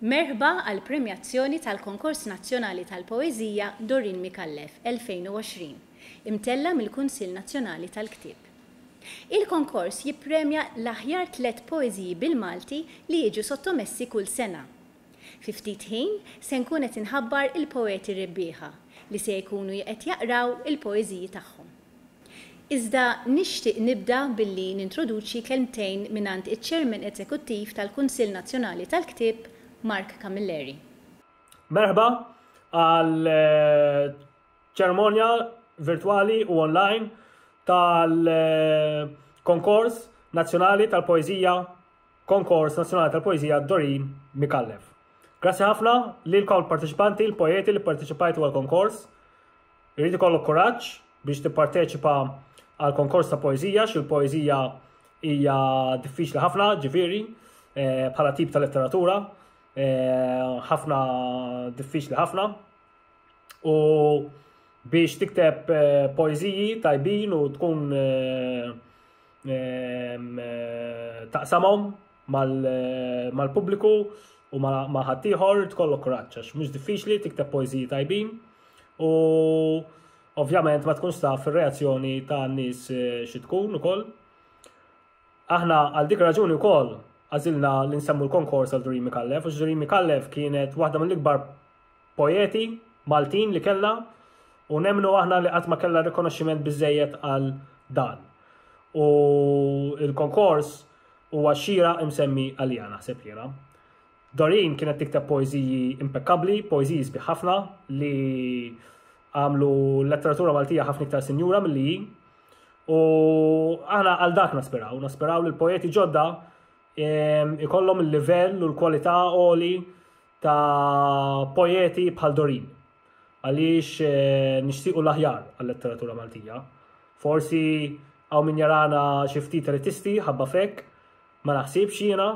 Merħba għall-premjazzjoni tal-Konkors Nazzjonali tal-Poeżija Doreen Micallef 2020, imtella' mill-Kunsill Nazzjonali tal-Ktieb. Il-konkors jippremja l-aħjar tliet poeżiji bil-Malti li jiġu sottomessi kull sena, Fi ftit ħin se nkun qed inħabbar il-poeti rebbieħa li se jkunu jqed jaqraw il-poeżiji tagħhom. Iżda nixtieq nibda billi nintroduċi kelmtejn mingħand iċ-Chairman Eżekuttiv tal-Kunsill Nazzjonali tal-Ktieb, Mark Camilleri. Merħba għal ċermonja virtwali u online tal-Konkors Nazzjonali tal-Poeżija Konkors Nazzjonali tal-Poeżija Dorin Micallef. Grazzi ħafna lilkom il-parteċipanti, il-poeti li parteċipajtu għal-konkors. Irrid ikollok kuraġġ biex tipparteċipa għal konkors ta' poeżija, xi l-poeżija hija diffiċli ħafna, ġifieri, eh, bħala tip ta' letteratura, eh, ħafna diffiċli ħafna. U biex tikteb eh, poeziji tajbin u tkun eh, ehm, taqsamhom mal-pubbliku u ma' ħaddieħor tkollok kuraġġ għax mhux diffiċli tikteb poeżiji tajbin u ovvjament ma tkunx taf ir-reazzjoni ta' nies eh, xi tkun ukoll. Aħna għal dik raġuni wkoll għażilna li nsemmu l-konkors għal Durimi Kallef, u Durimi Kallef kienet waħda mill-ikbar poeti Maltin li kellha u nemmnu aħna li qatt ma kellha rikonoxximent biżejjed għal dan. U il-konkors huwa xira imsemmi għalija naħseb jiena. Dorin kienet tikteb poeżiji impeccabbli, poeżiji sbieħ ħafna li għamlu letteratura Maltija ħafna iktar sinjura mill-li u aħna għal dak naspiraw, naspiraw li l-poeti ġodda ikollhom il-livell u l-kwalità għoli ta' poeti bħal Dorin. Għaliex eh, nixtiequ l-aħjar għal-letteratura Maltija. Forsi għaw min jarana xiftit ritisti, ħabba fek, ma naħsibx jiena,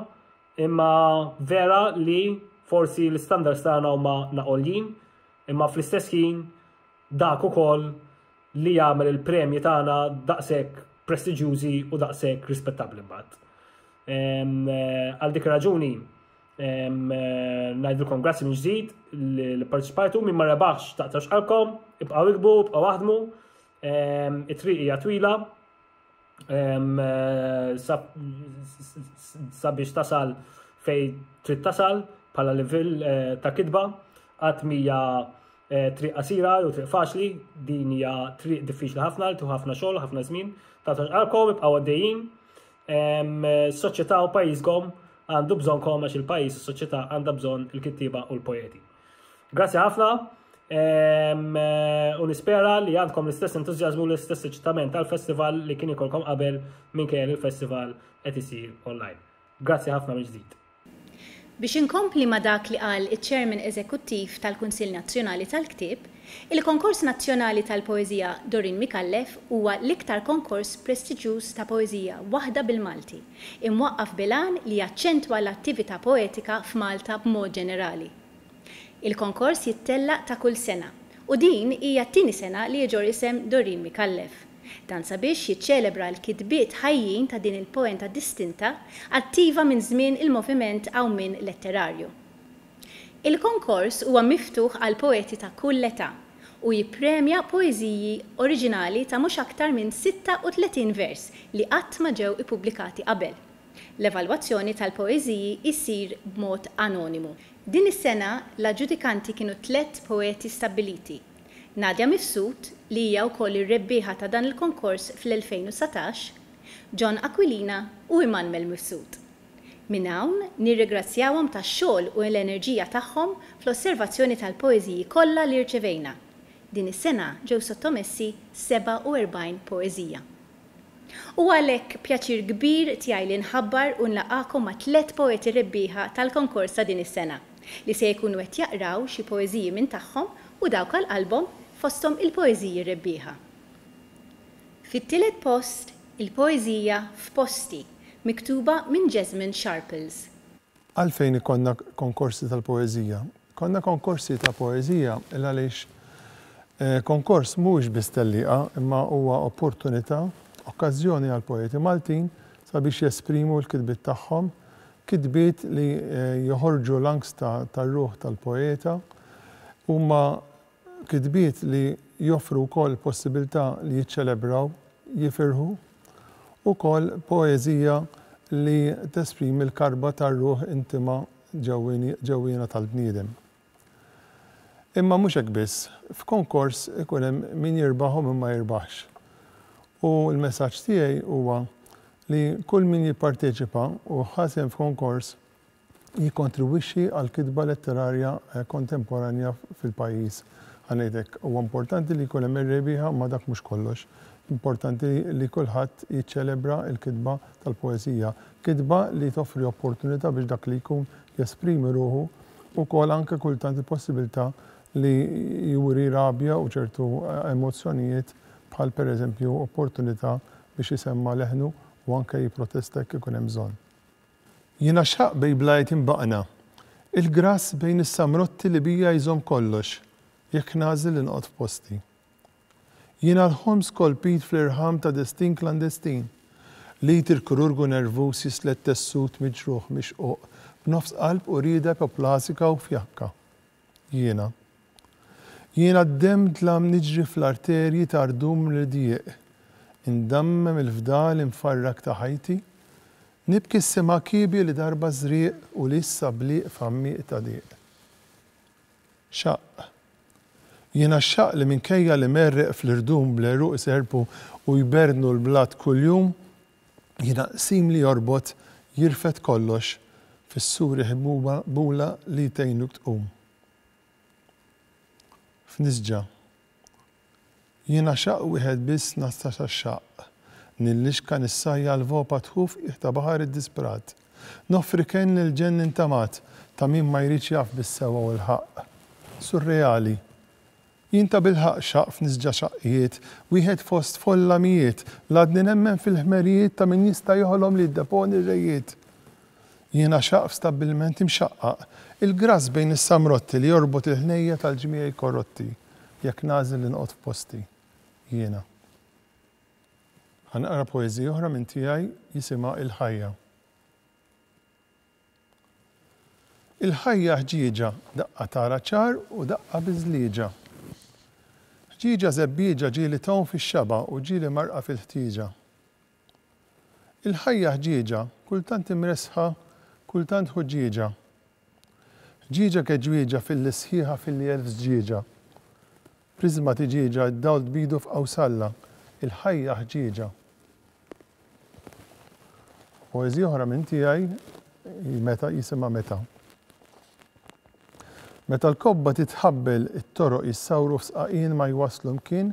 imma vera li forsi l-standards tagħna huma naqoljin, imma fl-istess ħin dak ukoll li jagħmel il-premji tagħna daqshekk prestiġjużi u daqshekk rispettabbli mbagħad. Eh, għal dik raġuni Najdilkom grazzi minn ġdid li parteċipajtu minn marra baħx taqtax qalkom, ibqaw ikbu, ibqaw waħdmu, it-triq hija twila. Sabiex tasal fej trid tasal bħala livell eh, ta' kitba, għat mija eh, triq qasira jew triq faċli, din hija triq diffiċli ħafna, tu ħafna xogħol, ħafna żmien, taqtax qalkom, ibqaw għaddejjin. Soċjetà u pajjiżkom għandu bżonkom għax il-pajjiż u soċjetà għandha bżonn il-kittieba u l-poeti. Grazzi ħafna u nispera li għandkom l-istess entużjażmu u l-istess eċitament tal-festival li kien ikolkom qabel minn kien il-festival qed isir online. Grazzi ħafna mill-ġdid. Biex inkompli ma' dak li qal iċ-Chairman Eżekuttiv tal-Kunsill Nazzjonali tal-Ktieb, il-Konkors Nazzjonali tal-Poeżija Doreen Micallef huwa l-iktar konkors prestiġjuż ta' poeżija waħda bil-Malti, imwaqqaf bil-għan li jaċċentwa l-attività poetika f'Malta b'mod ġenerali. Il-konkors jittellaq ta' kull sena u din hija t-tieni sena li jiġor isem Doreen Micallef. Dan sabiex jiċċelebra l-kitbiet ħajjin ta' din il-poenta distinta attiva minn żmien il-moviment Għawmien Letterarju. Il-konkors huwa miftuħ għal poeti ta' kull età u jippremja poeżiji oriġinali ta' mhux aktar minn 36 vers li qatt ma ġew ippubblikati qabel. L-evalwazzjoni tal-poeżiji issir b'mod anonimu. Din is-sena l-aġġudikanti kienu tlett poeti stabbiliti, Nadia Mifsud, li hija wkoll ir-rebbieħa ta' dan il-konkors fl-2019, John Aquilina u Immanuel Mifsud. Minn hawn nirrigrazzjawhom tax-xogħol u l-enerġija tagħhom fl-osservazzjoni tal-poeżiji kollha li rċevejna. Din is-sena ġew sottomessi 47 poeżija. Huwa għalhekk pjaċir kbir tiegħi li nħabbar u nlaqgħakom ma' tliet poeti rebbieħa tal-konkors ta' din is-sena, li se jkunu qed jaqraw xi poeżiji minn tagħhom u dawk għal qalbhom fosthom il-poeżiji rebbieħa. Fit-tielet post, il-poeżija F'Posti, miktuba minn Jesmond Sharples. Għalfejn ikollna konkorsi tal-poeżija? Konna konkorsi ta' poeżija il għaliex konkors mhuwiex biss tellieqa imma huwa opportunità, okkażjoni għall-poeti Maltin sabiex jesprimu l-kitbiet tagħhom, kitbiet li joħorġu l-anks tar-ruħ tal-poeta. Huma kitbiet li joffru wkoll possibilità li jiċċelebraw, jifirħu. Ukoll poeżija li tesprimi l-karba tar-ruħ intima ġewwiena tal-bniedem. Imma mhux hekk biss, f'konkors ikun hemm min jirbaħ u min ma jirbaħx. U l-messaġġ tiegħi huwa li kull min jipparteċipa u ħa sehem f'konkors jikkontribwixxi għall-kitba letterarja kontemporanja fil-pajjiż. Ħa ngħid hekk, huwa importanti li jkun hemm ir-rebbieħa imma dak mhux kollox. Importanti li kulħadd jiċċelebra l-kitba tal-poeżija. Kitba li toffri opportunità biex dak li jkun jesprimi ruħu, ukoll anke kultant il-possibilità li juri rabja u ċertu emozzjonijiet bħal pereżempju opportunità biex isemma' leħnu u anke jipprotesta jekk ikun hemm bżonn. Jiena x'ħaqq bej blajt imbaqna, il-grass bejn is-samrotti li bija jżomm kollox, jekk nagħżel li noqgħod f'posti. Jiena l-ħolm skolpit fl-irħam ta' destin klandestin. L-id il-kirurgu nervuż jislet tessut miġruħ mixquq b'nofs qalb u rieda ipoplasika u fjakka. Jiena. Jiena d-demm dlam niġri fl-arterji ta' rdum mridjieq. Indammem il-fdal imfarrak ta' ħajti. Nibki s-sema kiebja li darba żrieq u li issa bliq f'għammieq ta' diq. Xaqq. Jien għax-xaqq li minkejja li merreq fl-irdum bl-għeruq iserrpu u jberdnu l-blat kuljum, jiena qsim li jorbot jirfed kollox fis-sur iħbuba bula li tgħinuk tqum. F'nisġa. Jiena xaqq wieħed biss ngħassa sax-xaqq, nillixka nissajja l-voppa tħuf qiegħ ta' baħar iddisprat, noffri kenn lil ġenn intamat ta' min ma jridx jaf bis-sewwa u l-ħaqq. Surreali. Jien tabilħaqq xaqq f'nisġa xaqqiet, wieħed fost folla mijiet, l-għadni nemmen fil-ħmerijiet ta' min jista' joħlom li jiddeponi r-rejiet. Jiena xaqq f'stabbilment imxaqqaq, il-grass bejn is-samrotti li jorbot il-ħnejja tal-ġmiegħi korotti. Jekk nagħżel li noqgħod f'posti, jiena. Ħa naqra poeżija oħra minn tiegħi jisimha Il-Ħajja. Il-ħajja ħġieġa, daqqa tara ċar u daqqa biżlieġa. Ħġieġa żebbieġa ġieli tgħum fix-xaba' u ġieli marqa fil-ħtieġa. Il-ħajja ħġieġa, kultant imressħa, kultant ħuġġieġa. Ħġieġa keġwieġa f'illi sħiħa f'illi elf żġieġa. Priżma tiġieġa d-dawl tbidu f'qawsalla, il-ħajja ħġieġa. Poeżija oħra minn tiegħi hi meta jisimha Meta. Meta l-kobba titħabbel it-toroq jissawru f'sqaqien ma jwasslu mkien,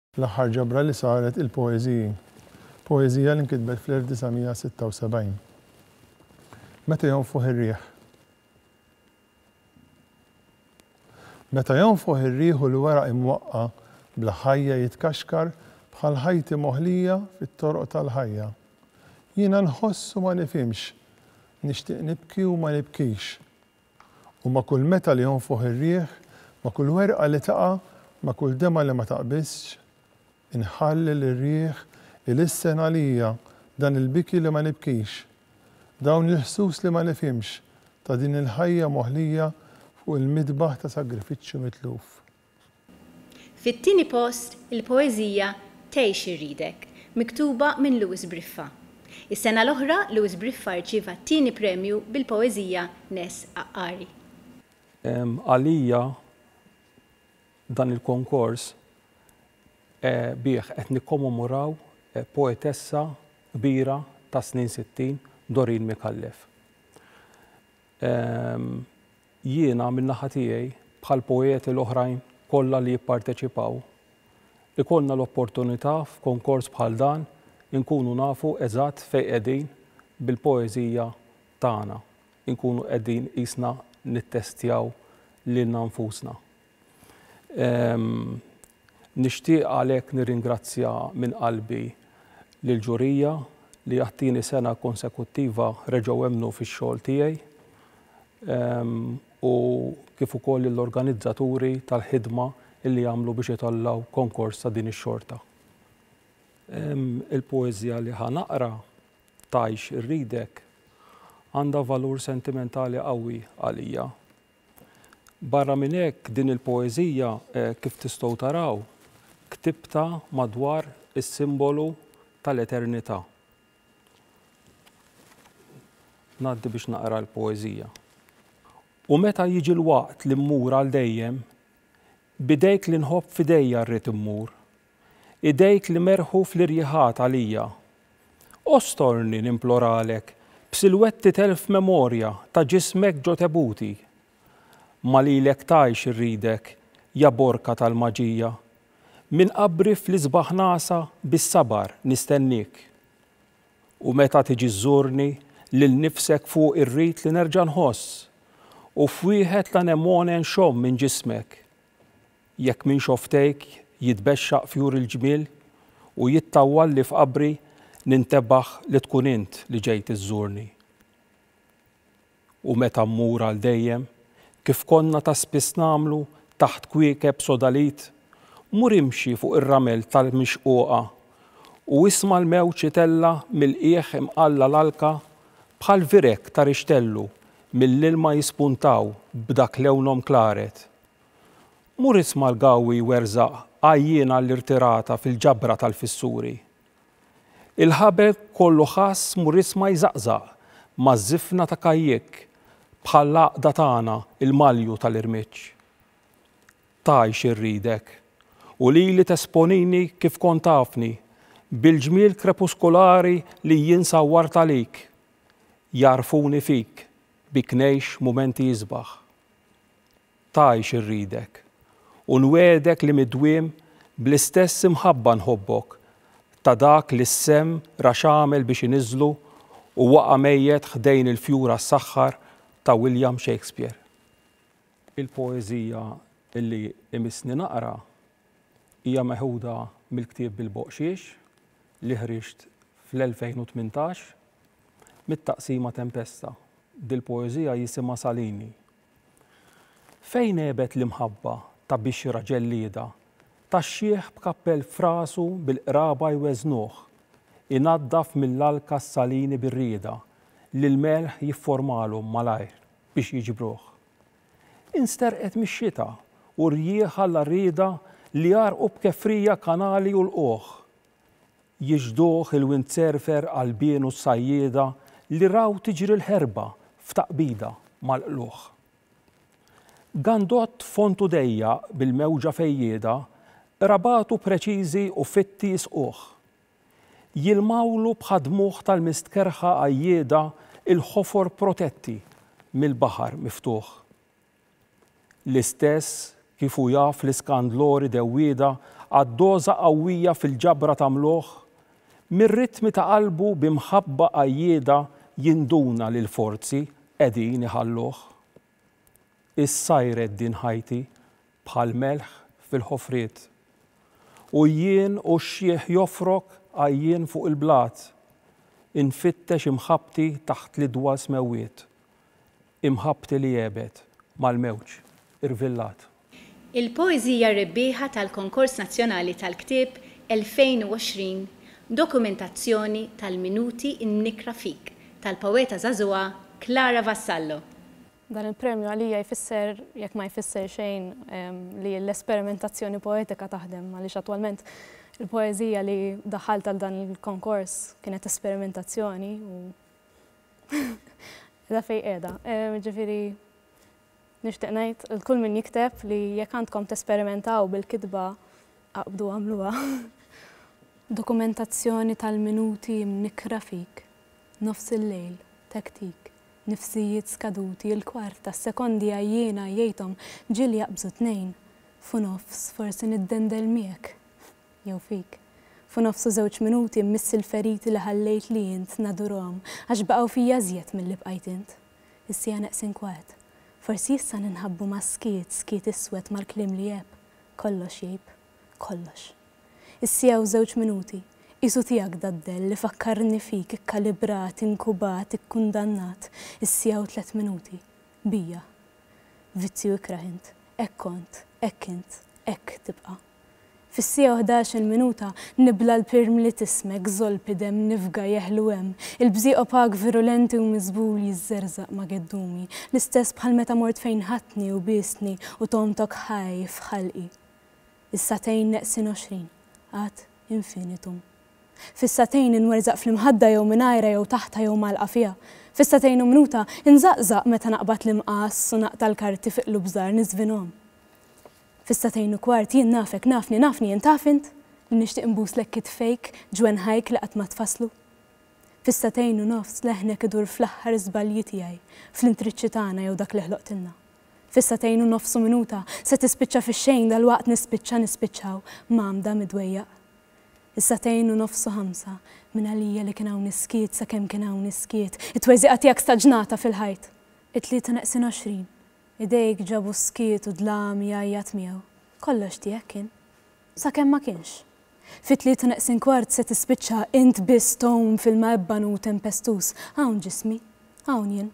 L-aħħar ġabra li saret il-poeżiji. Poeżija li nkitbet fl-1976. Meta jonfoħ ir-riħ. Meta jonfoħ ir-riħ u l-weraq imwaqqa' bla ħajja jitkaxkar bħal ħajti moħlija fit-toroq tal-ħajja. Jiena nħoss u ma nifhimx, nixtieq nibki u ma nibkix. U ma' kull meta li jonfoħ ir-riħ, ma' kull werqa li taqa', ma' kull demgħa li ma taqbiżx, inħalli lir-riħ ilissen għalija dan il-biki li ma nibkix, dawn il-ħsus li ma nifhimx ta' din il-ħajja moħlija fuq il-midbaħ ta' sagrifiċċju mitluf. Fit-tieni post, il-poeżija Tgħix irridek, miktuba minn Louis Briffa. Is-sena l-oħra, Louis Briffa rċieva t-tieni premju bil-poeżija Ness Għaqqari. Għalija dan il-konkors bih qed nikkomomoraw poetessa kbira tas-snin sittin, Doreen Micallef. Jiena, min-naħa tiegħi, bħall-poeti l-oħrajn kollha li jipparteċipaw, ikollna l-opportunità f'konkors bħal dan inkunu nafu eżatt fejn qegħdin bil-poeżija tagħna, inkunu qegħdin qisna nittestjaw lilna nfusna. Nixtieq għalhekk nirringrazzja minn qalbi lill-ġurija li għat-tieni sena konsekuttiva reġgħu emmnu fix-xogħol tiegħi u kif ukoll lill-organizzaturi tal-ħidma li għamlu biex itellgħu konkors ta' din ix-xorta. Il-poeżija li ħa naqra, Tgħix irridek, għandha valur sentimentali qawwi għalija. Barra minn hekk, din il-poeżija, kif tistgħu taraw, ktibtha madwar is-simbolu tal-eternità. Ngħaddi biex naqra l-poeżija. U meta jiġi l-waqt li mmur għal dejjem, b'idejk li nħobb f'idejja rrid immur, idejk li merħu fl-irjiħat għalija. Ostorni, nimploralek, b'silwetti t'elf memorja ta' ġismek ġo tebuti. Ma lilek tgħix irridek, ja borka tal-maġija. Minn qabri fl-isbaħ nagħsa bis-sabar nistenniek. U meta tiġi żżurni, lil nifsek fuq irrid li nerġa' nħoss, u f'wieħed l-anemone nxomm minn ġismek. Jekk minn xofftejk jitbexxaq fjur il-ġmiel u jittawwalli f'qabri nintebaħ li tkun int li ġejt iżżurni. U meta mmur għal dejjem, kif konna ta' spiss nagħmlu taħt kwiekeb sodalid, mur imxi fuq ir-ramel tal-mixquqa u isma' l-mewġ itella' mill-qiegħ imqalla' l-alka bħal vireg ta' rixtellu mill-ilma jispuntaw b'dak lewnhom klaret. Mur isma' l-gawwi jwerżaq għajjien għall-irtirata fil-ġabra tal-fissuri. Il-ħabel kollu ħass mur isma' jżaqżaq maż-żifna ta' kajjikk bħall-għaqda tagħna l-malju tal-irmiġġ. Tgħix irridek, u lili tesponini kif kont tafni, bil-ġmiel krepuskulari li jien sawwart għalik. Jagħrfuni fik, bik ngħix mumenti isbaħ. tgħix irridek, u nwegħdek li mid-dwiem bl-istess imħabba nħobbok, ta' dak li s-semm ra x'għamel biex iniżżlu u waqa' mejjet ħdejn il-fjur għas-saħħar ta' William Shakespeare. Il-poeżija li imissni naqra hija meħuda mill-ktieb Bil-Boqxiex li ħriġt fl-2018 mit-taqsima Tempesta. Dil-poeżija jisimha Salini. Fejn għebet l-imħabba ta' bixra ġellieda, tax-xiħ b'kappell f'rasu bil-qraba jweżnuh, inaddaf mill-alka s-salini bir-rieda li l-melħ jifformalhom malajr biex jiġbruh. Insterqet mix-xita u rjieħ alla rieda li jgħarrqu b'kefrija kanali u lqugħ, Jixhduh il-windsurfer Qalbien u s-sajjieda li raw tiġri l-ħerba f'taqbida mal-qlugħ. Gandott fond u dejjaq bil-mewġa fejjieda, qrabatu preċiżi u fitti jisquh. Jilmgħulu bħad-dmugħ tal-mistkerrħa għajjieda l-ħofor protetti mill-baħar miftuħ. L-istess kif hu jaf li Scandlore dewwieda għad doża qawwija fil-ġabra ta' mlugħ, mir-ritmi ta' qalbu bi mħabba qajjieda jinduna li l-forzi qegħdin iħalluh. Issajret din ħajti bħal melħ fil-ħofriet. U jien u x-xiħ jofrok għajjien fuq il-blat, infittex imħabbti taħt l-idwa smewwiet. Imħabbti li għebet mal-mewġ, irvillat. Il-poeżija rebbieħa tal-Konkors Nazzjonali tal-Ktieb 2020 dokumentazzjoni tal-minuti mnikkra fik tal-poeta żagħżugħa Clara Vassallo. Dan il-premju għalija jfisser, jekk ma jfisser xejn, li l-esperimentazzjoni poetika taħdem għaliex attwalment il-poeżija li daħħalt għal dan il-konkors kienet esperimentazzjoni u Qiegħda fejn qiegħda. Jiġifieri nixtieq ngħid lil kull min jikteb li jekk għandkom tesperimentaw bil-kitba aqbdu għamluha. Dokumentazzjoni tal-minuti mnikkra fik, nofs il-lejl, tektik, nifsijiet skaduti, il-kwart ta' sekondi għajjiena jgħidhom ġieli jaqbżu tnejn, f'u nofs forsi niddendel miegħek. jew fik. Fu nofsu żewġ minuti mmissi l-feriti li ħallejtli int nadurhom għax baqgħu fija iżjed milli bqajt int. Is-siegħa neqsin kwart. Forsi issa ninħabbu mas-skiet, skiet iswed mal-kliem li jgħebb. Kollox jgħib. Kollox. Is-siegħa u żewġ minuti. Qisu tiegħek daddell li fakkarni fik ikkalibrat, inkubat, ikkundannat. Is-siegħa u tliet minuti. Bija. Vizzju ikrah int. Hekk kont. Hekk int. Hekk tibqa'. Fis-siegħa u ħdax-il minuta nibla' l-pirm li t'ismek żolp idem nifga jeħlu hemm il-bżieq opak virulenti u miżbul jiżżerżaq ma' geddumi l-istess bħal meta mort fejn ħadtni u biestni u togħmtok ħaj f'ħalqi Is-sagħtejn neqsin għoxrin ad infinitum Fis-sagħtejn inwerzaq fl-imħadda jew mingħajrha jew taħtha jew mgħallqa fiha Fis-sagħtejn u minuta inżaqżaq meta naqbad l-imqass u naqta' l-karti fi qlub żgħar niżvinhom Fis-sagħtejn u kwart jien nafek, nafni, nafni jien taf int li nixtieq inbuslek kitfejk, ġwenħajk li qatt ma tfasslu. Fis-sagħtejn u nofs leħnek idur fl-aħħar żbalji tiegħi, fl-intriċċi tagħna jew dak li ħloqtilna. Fis-sagħtejn u nofs u minuta se tispiċċa fix-xejn dalwaqt nispiċċa, nispiċċaw, mgħammda, midwejjaq. Is-sagħtejn u nofs u ħamsa, mingħalija li kien hawn is-skiet sakemm kien hawn is-skiet, it-tweżiqa tiegħek staġnata fil-ħajt. It-tlieta neqsin għoxrin, Idejk ġabu s-skiet u d-dlam jgħajjat miegħu. Kollox tiegħek kien. Sakemm ma kienx. Fit-tlieta neqsin kwart se tispiċċa int biss tgħum f'ilma ebban u tempestuż. Hawn ġismi. Hawn jien.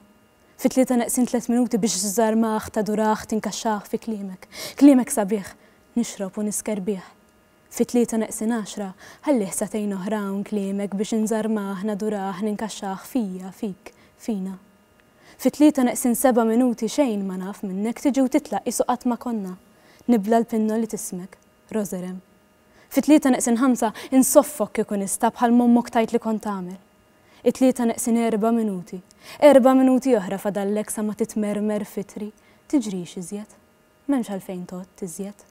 Fit-tlieta neqsin tliet minuti biex żżarmah, tadurah, tinkaxxah fi kliemek. Kliemek sabiħ. Nixrob u nisker bih. Fit-tlieta neqsin għaxra, ħallih sagħtejn oħra hawn kliemek biex inżarmah, nadurah, ninkaxxah fija, fik, fina. Fi tlieta neqsin seba' minuti xejn ma naf minnek tiġi u titlaq qisu qatt ma konna. Nibla l-pinnol li tismek, Roserem. Fi tlieta neqsin ħamsa insoffok kieku nista' bħal m'ommok tgħid li kont tagħmel. It-tlieta neqsin erba' minuti, erba' minuti oħra fadallek sa ma titmermer f'itri, tiġrix iżjed. M'hemmx għalfejn tgħodd iżjed.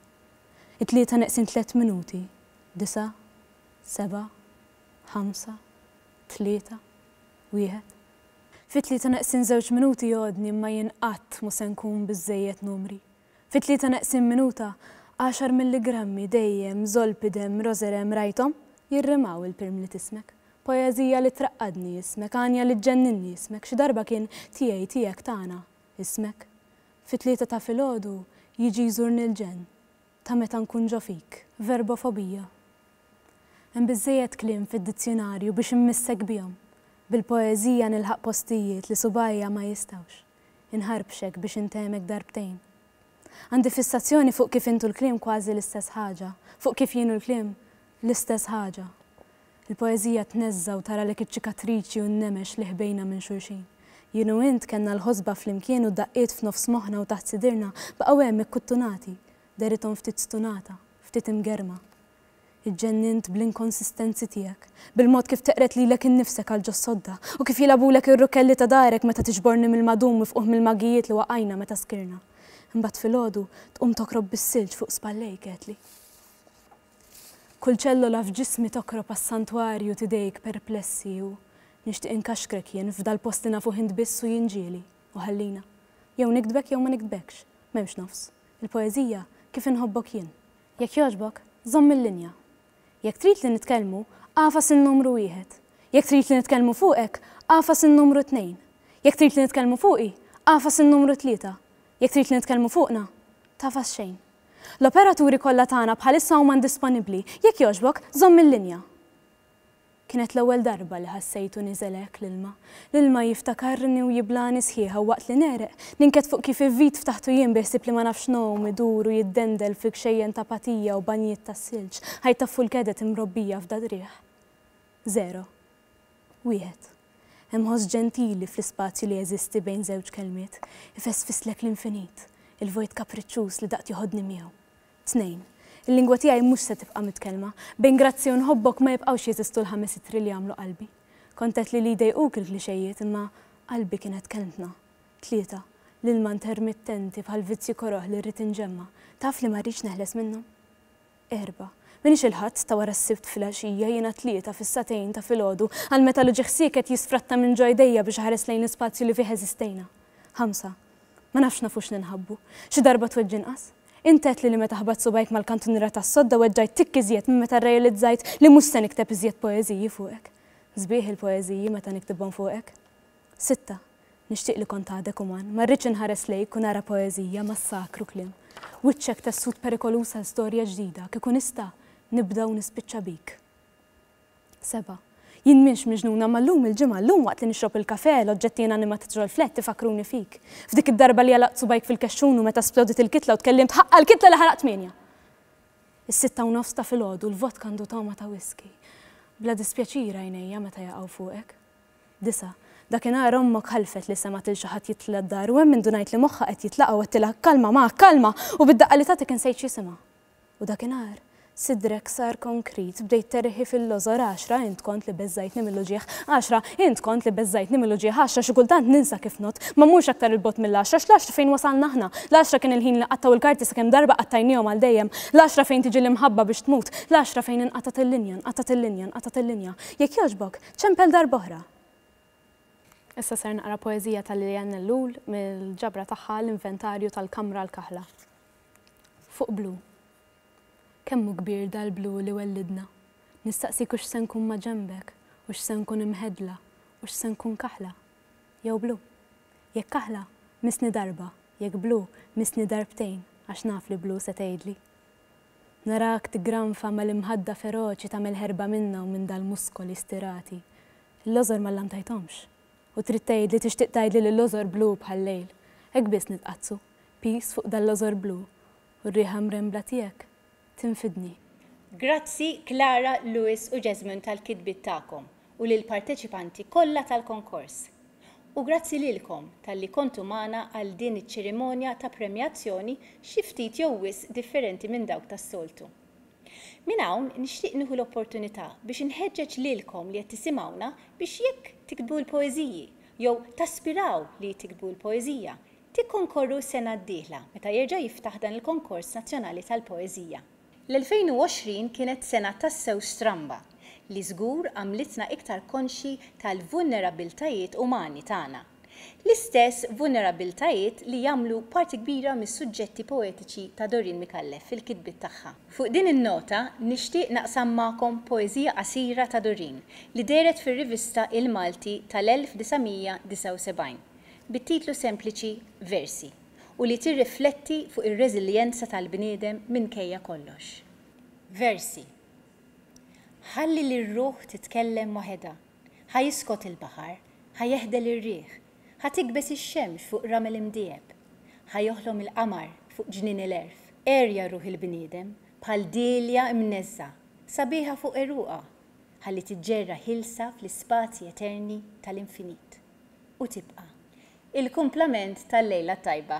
It-tlieta neqsin tlett minuti, disa', seba', ħamsa, tlieta. Wieħed. Fi tlieta neqsin żewġ minuti jogħodni imma jien qatt mhu se nkun biżżejjed numri. Fi tlieta neqsin minuta, għaxar milligrammi, dejjem, zolpidem, roserem, rajthom? Jirrimaw il-pirm li tismek. Poeżija li traqqadni, ismek, għanja li ġġenninni, ismek, xi darba kien tiegħi, tiegħek, tagħna, ismek. Fi tlieta ta' filgħodu, jiġi jżurni l-ġenn. ta' meta nkun ġo fik, verbofobija. Hemm biżżejjed kliem fid-dizzjunarju biex immissek bihom. Bil-poeżija nilħaq postijiet li subgħajja ma jistgħux. Inħarbxek biex intehmek darbtejn. Għandi fissazzjoni fuq kif int u l-kliem kważi l-istess ħaġa, fuq kif jien u l-kliem l-istess ħaġa. Il-poeżija tneżża' u taralek iċ-ċikatriċi u n-nemex li ħbejna minn xulxin. Jien u int kellna l-ħosba flimkien u d-daqqiet f'nofs moħħna u taħt sidirna baqgħu hemm ikkuttunati, derithom ftit stunata, ftit imgerrma. Iġġennint bl-inkonsistenzi tiegħek, bil-mod kif teqred lilek innifsek għal ġos-sodda u kif jilgħabulek ir-rukelli ta' darek meta tiġborni mill-madum mifqugħ mill-maghijiet li waqajna meta skirna. Imbagħad filgħodu tqum tokrob bis-silġ fuq spallejk, għedtli. Kull ċellola f'ġismi tokrob għas-santwarju t'idejk perplessi u Nixtieq inkaxkrek jien f'dal-post li nafuh int biss u jien ġieli u ħallina Jew niktbek jew ma niktbekx, m'hemmx nofs Il-poeżija kif inħobbok jien. Jekk jogħġbok, żomm il-linja Jekk trid li nitkellmu, agħfas in-numru wieħed Jekk trid li nitkellmu fuqek, agħfas in-numru tnejn Jekk trid li nitkellmu fuqi, agħfas in-numru tlieta Jekk trid li nitkellmu fuqna, tagħfas xejn. L-operaturi kollha tagħna bħalissa huma indisponibbli. Jekk jogħġbok, żomm il-linja. Kienet l-ewwel darba li ħassejtu niżel hekk l-ilma. L-ilma jiftakarni u jiblagħni sħiħa u waqt li negħreq, ninked fuq kif ivvid ftaħtu jien bi ħsieb li ma nafx ngħum, idur u jiddendel fil-kxejjen ta' patija u banjiet tas-silġ, ħajt ta' fulkedet imrobbija f'dal-riħ. Żero. Wieħed. Hemm ħoss ġentili fl-ispazju li jeżisti bejn żewġ kelmiet, ifesfisslek l-infinit, il-vojt kapriċċuż li daqt joħodni miegħu. Tnejn. Il-lingwa tiegħi mhux se tibqa' mitkellma. Bejn grazzi u nħobbok ma jibqgħux jeżistu l-ħames ittri li jagħmlu qalbi. Kont għedt li li jdejquk il-klixejiet imma qalbi kienet kelmtna. Tlieta. L-ilma ntermittenti bħal vizzju koroh li rrid inġemma. Taf li ma rridx neħles minnu. Erbgħa. M'iniex il-Ħadd ta' wara s-Sibt filgħaxija, jiena t-Tlieta fis-sagħtejn ta' filgħodu, għal meta l-uġigħ sieket jisfratta minn ġo idejja biex iħares lejn l-ispazju li fih eżistejna. Ħamsa. Ma nafx nafux ninħabbu. Xi darba tweġġi inqas? Int għedtli li meta ħbatt subgħajk mal-kantuniera tas-sodda weġġajt tikk iżjed minn meta rrealizzajt li mhux se nikteb iżjed poeżiji fuqek. Sbieħ il-poeżiji meta niktibhom fuqek. Sitta, Nixtieq li kont għadek uman, ma rridx inħares lejk u nara poeżija, massakru, kliem. Wiċċek tessut perikoluż għal storja ġdida, kieku nista', nibda u nispiċċa bik. Seba', Jien m'innx miġnuna, imma llum il-Ġimgħa, llum waqt li nixrob il-kafè, l-oġġetti inanimat ġol-flat ifakkruni fik. F'dik id-darba li għalaqt subgħajk fil-kexxun u meta splodiet il-kitla u tkellimt, ħaqqa l-kitla li ħaraq tmienja! Is-sitta u nofs ta' filgħodu, l-vodka għandu togħma ta' whiskey. Bla dispjaċir għajnejja meta jaqgħu fuqek. Disa', Dakinhar ommok ħalfet li semgħet lil xi ħadd jidħla d-dar u hemm indunajt li moħħha qed jitlaqa' u għedtilha, Kalma, ma, kalma! U bid-daqqa li tagħtik insejt x'jisimha. U dakinhar sidrek sar konkrit, bdejt terħi fil-lożor, Għaxra, int kont li beżżajtni mill-uġigħ, Għaxra, int kont li beżżajtni mill-uġigħ, Għaxra, xi kultant ninsa kif nott, ma mmurx aktar 'il bogħod mill-Għaxra, x'L-Għaxra fejn wasalna aħna, L-Għaxra kien il-ħin li qattgħu l-karti sakemm darba qattajnihom għal dejjem, L-Għaxra fejn tiġi l-imħabba biex tmut, L-Għaxra fejn inqatgħet il-linja, nqatgħet il-linja, nqatgħet il-linja. Jekk jogħġbok, Ċempel darb'oħra! Issa ser naqra poeżija ta' Liliane Ellul mill-ġabra tagħha L-Inventarju tal-Kamra l-Kaħla. Fuq blu. Kemm hu kbir dal-blu li wellidna! Nistaqsik u x'se nkun maġenbek, u x'se nkun imhedla, u x'se nkun kaħla? Jew blu? Jekk kaħla, missni darba, jekk blu, missni darbtejn, għax naf li blu se tgħidli. Narak tiggranfa mal-imħadda feroċi tagħmel ħerba minnha u minn dal-muskoli stirati. Il-lożor ma llantajthomx. U trid tgħidli, tixtieq tgħidli li l-lożor blu bħal-lejl. Hekk biss nitqaddsu, piż fuq dal-lożor blu, u r-riħa mrembla tiegħek tinfidni. Grazzi Clara, Louis u Jesmond tal-kitbiet tagħkom. u lill-parteċipanti kollha tal-konkors. U grazzi lilkom talli kontu magħna għal din iċ-ċerimonja ta' premjazzjoni xi ftit jew wisq differenti minn dawk tas-soltu. Minn hawn nixtieq nieħu l-opportunità biex inħeġġeġ lilkom li qed tisimgħuna biex jekk tiktbu l-poeżiji jew taspiraw li tiktbu l-poeżija, tikkonkorru s-sena d-dieħla meta jerġa' jiftaħ dan il-konkors nazzjonali tal-poeżija. L-2020 kienet sena tassew stramba li żgur għamlitna iktar konxji tal-vulnerabbiltajiet umani tagħna. L-istess vulnerabbiltajiet li jagħmlu parti kbira mis-suġġetti poetiċi ta' Doreen Micallef fil-kitbiet tagħha. Fuq din in-nota nixtieq naqsam magħkom poeżija qasira ta' Doreen li dehret fir-rivista Il-Malti tal-1979 bit-titlu sempliċi Versi. u li tirrifletti fuq ir-reżiljenza tal-bniedem minkejja kollox. Versi. Ħalli lir-ruħ titkellem waħedha, ħa jiskot il-baħar, ħa jeħdel ir-riħ, ħa tikbeż ix-xemx fuq ramel imdiegħeb, ħa joħlom il-qamar fuq ġnien il-għerf. Għerja ruħ il-bniedem bħal dielja mneżżgħa, sabiħa fuq għeruqha, ħalli tiġġerra ħielsa fl-ispazji eterni tal-infinit, u tibqa'. Il-kumplament tal-lejla t-tajba.